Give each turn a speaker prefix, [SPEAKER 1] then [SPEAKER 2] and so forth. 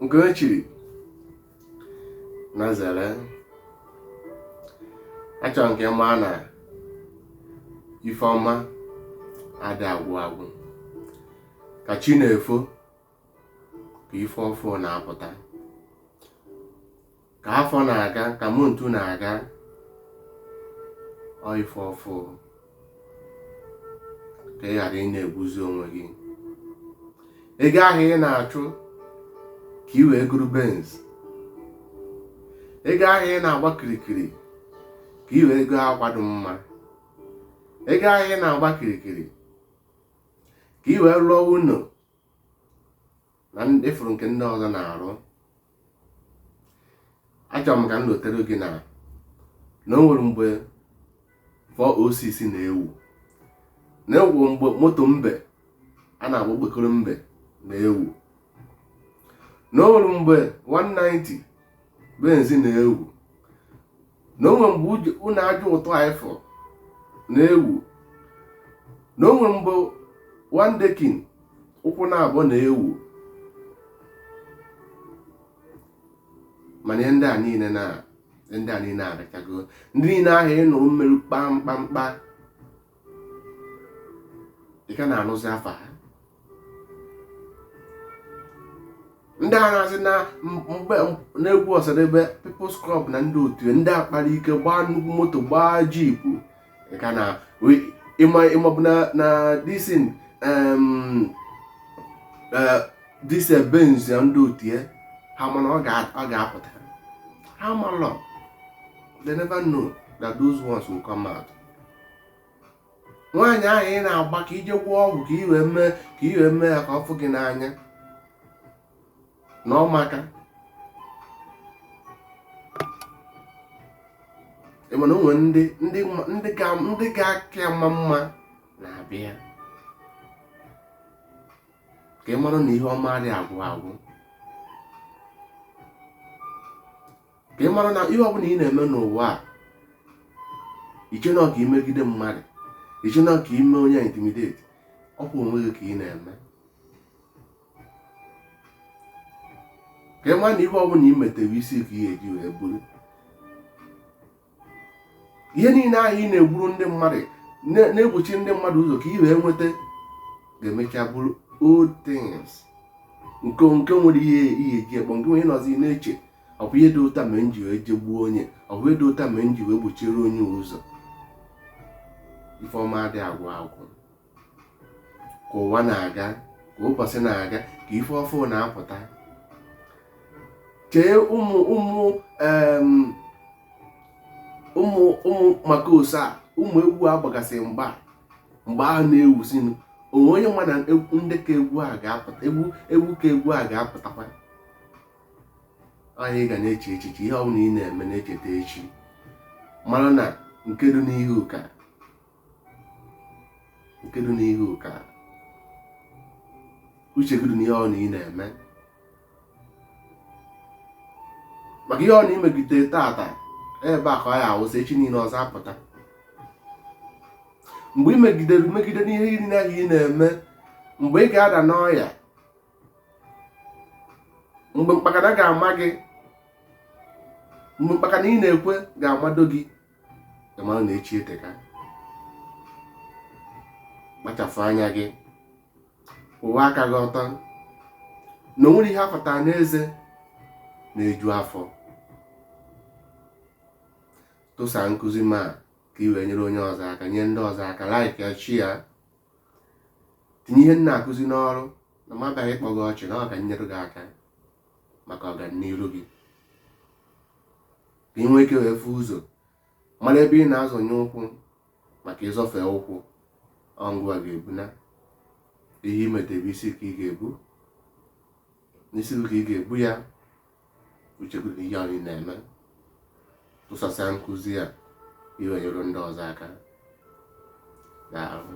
[SPEAKER 1] nke e chiri na zere achọrọ m ka ị ma na ife ọma adị agwụ agwụ ka chi na-efo ka ife ọfụ na-apụta ka afọ na-aga ka month na-aga ọ ife ọfụ ka ị ghara ị na-egbuzi onwe gị ego ahụ ị na-achụ ka ị wee goro Benz ego ahụ ị na-agba kirikiri ka ị wee goo akwa dị mma ego ahụ ị na-agba kirikiri ka ị wee rụọ ụlọ na ị fụrụ nke ndị ọzọ na-arụ achọrọ m ka m lotere gị na na o nwere mgbe 406 na-ewu na o nwe mgbe moto mbe a na-akpọ okpokoro mbe na-ewu na o nwere mgbe 190 Benz na-ewu na o nwe mgbe ụnọ aja ọtọ anyị fụrụ na-ewu na o nwe mgbe one decking ụkwụ naabọ na-ewu mana ndị a niile na ndị a niile agachago ndị niile ahụ ị nụrụ mmiri kpamkpamkpa ị ka na-anụzi afa ha ndị a na-asị na mgbe n'egwu Osadebe People's Club na ndị otu ndị kpara ike gbaa nnukwu moto gbaa jeep ka na ịmabụ na disin e, dise Benz na ndị otu ya ha ma na ọ ga-apụta ha malọ they never know that those ones will come out nwaanyị ahụ ị na-agba ka ị je gwọọ ọgwụ ka i wee mee ka i wee mee ya ka ọ fụ gị n'anya na ọ maka mana o nwere ndị ndị ndị ga ndị ga-aka ya mma mma na-abịa ka ị mara na ihe ọma adị agwụ agwụ ka ị mara na ihe ọbụla ị na-eme n'ụwa a i che na ọ ka i megide mmadụ i che na ọ ka i mee onye intimidate ọ bụ onwe gị ka ị na-eme ka ị mara na ihe ọbụla ị metere isi ka ị ga-eji wee buru ihe niile ahụ ị na-egburu ndị mmadụ na-egbochi ndị mmadụ ụzọ ka ị wee nweta ga-emecha bụrụ old things nke nke nwere ihe ihe ji ekpọ nke ị wee nọzi na-eche ọ bụ ihe dị otu a mere m ji wee je gbuo onye ọ bụ ihe dị otu a mere m ji wee gbochiere onye ụzọ ife ọma adị agwụ agwụ ka ụwa na-aga ka ụbọsị na-aga ka ife ọfụ na-apụta chee ụmụ maka ose a ụmụ egwu a gbagasị mgba mgbe ahụ na-ewuzinụ o nwe onye ma na ndị ka egwu a ga-apụta egwu ka egwu a ga-apụtakwa anyị ga na-eche echiche ihe ọbụla ị na-eme na-echeta echi mara na nke dị n'ihu ka nke dị n'ihu ka uche gị dị n'ihe ọbụna ị na-eme maka ihe ọbụna ị megide tata ebe a ka ọ ya-awụsa echi niile ọzọ apụta mgbe ị megide megide n'ihe niile a ị na-eme mgbe ị ga-ada n'ọya mgbe mkpakana ga-ama gị mgbe mkpakana ị na-ekwe ga-amado gị ị mara na echi eteka kpachapụ anya gị kwụwa aka gị ọtọ na o nwerọ ihe a fọta n'eze na-eju afọ tụsa nkụzi m a ka ị wee nyere onye ọzọ aka nye ndị ọzọ aka like ya share tinye ihe m na-akụzi n'ọrụ na m abịaghị ịkpọ gị ọchị na ọ ka m nyere gị aka maka ọganiru gị ka ị nwee ike wee fụ ụzọ mara ebe ị na-azọnye ụkwụ maka ịzọfie ụkwụ ọ ngịwa ga-ebu na ihe ị metebe isi ka ị ga-ebu n'isi ka ị ga-ebu ya uche gị dị n'ihe anyị na-eme tụsasịa nkụzi a ị wee nyere ndị ọzọ aka daalụ